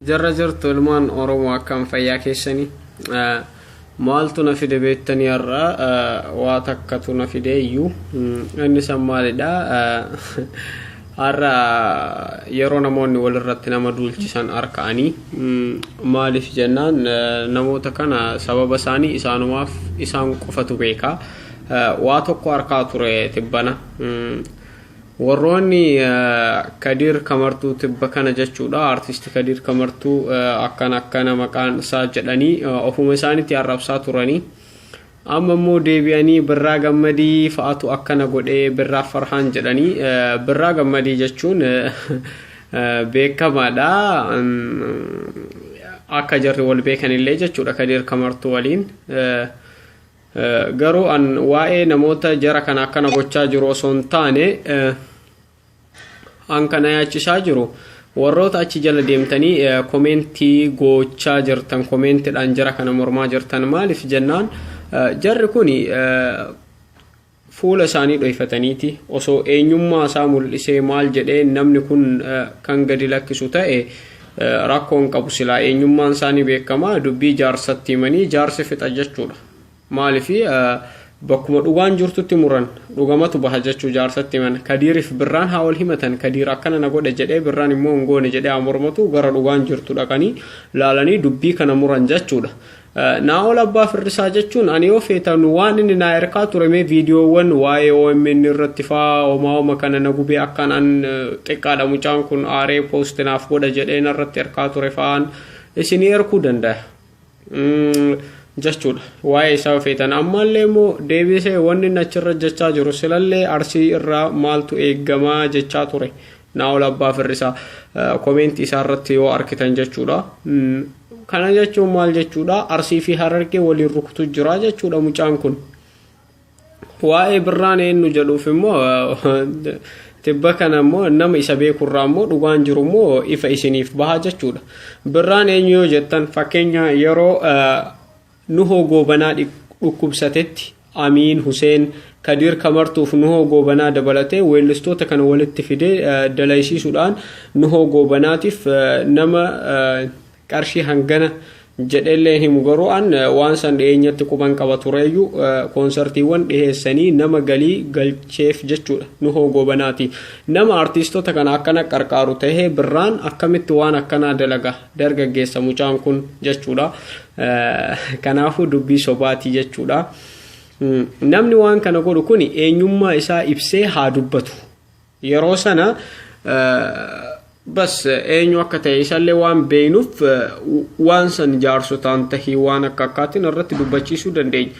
Jirra jirtu ilmaan Oromoo akkam fayyaa keessanii? Maaltu na fide beektanii har'a waa takkatu na fide iyyuu inni san maalidha? Har'a yeroo namoonni walirratti nama duulchisan harka'anii maaliif jennaan namoota kana sababa isaanii isaanumaaf isaan qofatu beeka. Waa tokko harkaa ture tibbana. Warroonni Kadiir Kamartuu tibba kana jechuudha Artisti Kadiir Kamartuu akkana akkana maqaan isaa jedhanii ofuma isaaniitti arrabsaa turanii amma immoo deebi'anii Birraa Gammadii fa'atu akkana godhee Birraa Farhaan jedhanii Birraa Gammadii jechuun beekamaadha akka jarri wal beekanillee jechuudha Kadiir Kamartuu waliin. Garuu an waa'ee namoota jara kana akkana gochaa jiru osoo hin taane an kana yaachisaa jiru warroota achi jala deemtanii komeentii gochaa jirtan komeentiidhaan jara kana mormaa jirtan maaliif jennaan jarri kun fuula isaanii dhoyfataniiti osoo eenyummaa isaa mul'isee maal jedhee namni kun kan gadi lakkisu ta'e rakkoo hin qabu silaa eenyummaan isaa ni beekama dubbii jaarsatti himanii jaarsi fixa jechuudha maaliif bakkuma dhugaan jirtutti muran dhugamatu baha jechuu jaarsatti himan kadiirif birraan haa wal himatan kadiir akkana na godhe jedhee birraan immoo hin goone jedhee haa mormatu gara dhugaan jirtu dhaqanii laalanii dubbii kana muran jechuudha Naa'ol Abbaa Firrisaa jechuun ani yoo feetan waan inni naa erkaa ture mee viidiyoowwan waa'ee OMN irratti faa homaa homa kana na gubee akkaan an xiqqaadha mucaan kun aaree poosti naaf godha jedhee narratti erkaa ture fa'aan isinii erkuu danda'a. jechuudha waa'ee isaa feetan ammallee immoo deebisee wanni inni achirra jechaa jiru silallee arsii irraa maaltu eegamaa jechaa ture Naa'ol Abbaa Firrisaa komeentii isaa irratti yoo arkitan jechuudha. Kana jechuun maal jechuudha? Arsii fi Harargee waliin rukutu jira jechuudha mucaan kun. Waa'ee birraan eenyu jedhuuf immoo tibba kana immoo nama isa beekurraa immoo dhugaan jiru immoo ifa isiniif baha jechuudha. Birraan eenyu yoo jettan fakkeenya yeroo Nuhoo Goobanaa dhukkubsatetti, Amiin, Huseen, Kadiir Kamartuuf Nuhoo Goobanaa dabalatee weellistoota kana walitti fidee dalaysiisuudhaan Nuhoo Goobanaatiif nama qarshii hangana jedheellee hin himu garuu an waan san dhiyeenyatti quban qaba tureeyyuu koonsartiiwwan dhiheessanii nama galii galcheef jechuudha Nuhoo Goobanaati. Nama artiistota kana akkana qarqaaru tahee birraan akkamitti waan akkanaa dalaga dargaggeessa mucaan kun jechuudha. Kanaafuu dubbii sobaati jechuudha. Namni waan kana godhu kun eenyummaa isaa ibsee haa dubbatu. Yeroo sana bas eenyu akka ta'e isallee waan beeknuuf waan san jaarsotaan tahii waan akka akkaatiin irratti dubbachiisuu dandeenya.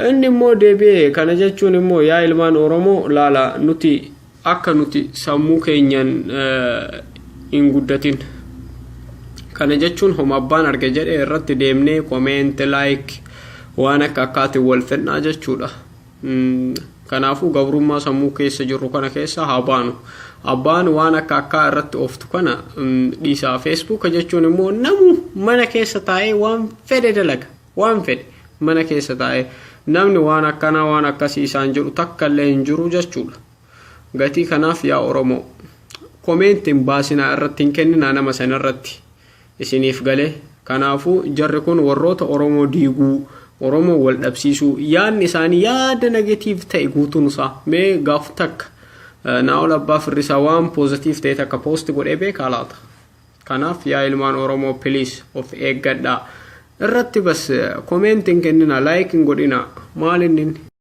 Inni immoo deebi'ee kana jechuun immoo yaa ilmaan Oromoo laala nuti Akka nuti sammuu keenyan hin guddatin. Kana jechuun homa abbaan arge jedhe irratti deemnee comment like waan akka akkaatiin wal fedhnaa jechuudha. Kanaafuu gabrummaa sammuu keessa jirru kana keessa haa baanu. Abbaan waan akka akkaa irratti ooftu kana dhiisaa. Facebook jechuun immoo namu mana keessa taa'ee waan fedhe dalaga. Waan fedhe mana keessa taa'ee namni waan akkanaa waan akkasii isaan jedhu takka illee hin jiru jechuudha. Gatii kanaaf yaa Oromoo komeenti hin baasinaa irratti hin kenninaa nama san irratti isiniif galee. Kanaafuu jarri kun warroota Oromoo diiguu, Oromoo wal dhabsiisuu yaadni isaanii yaada negatiiv ta'e guutuun isaa mee gaaf takka Naa'ol Abbaa Firrisaa waan poozatiiv ta'e takka poosti godhee beekaa laata? Kanaaf yaa ilmaan Oromoo please of eeggadhaa. Irratti bas comment hin kennina like hin godhina. Maal innin?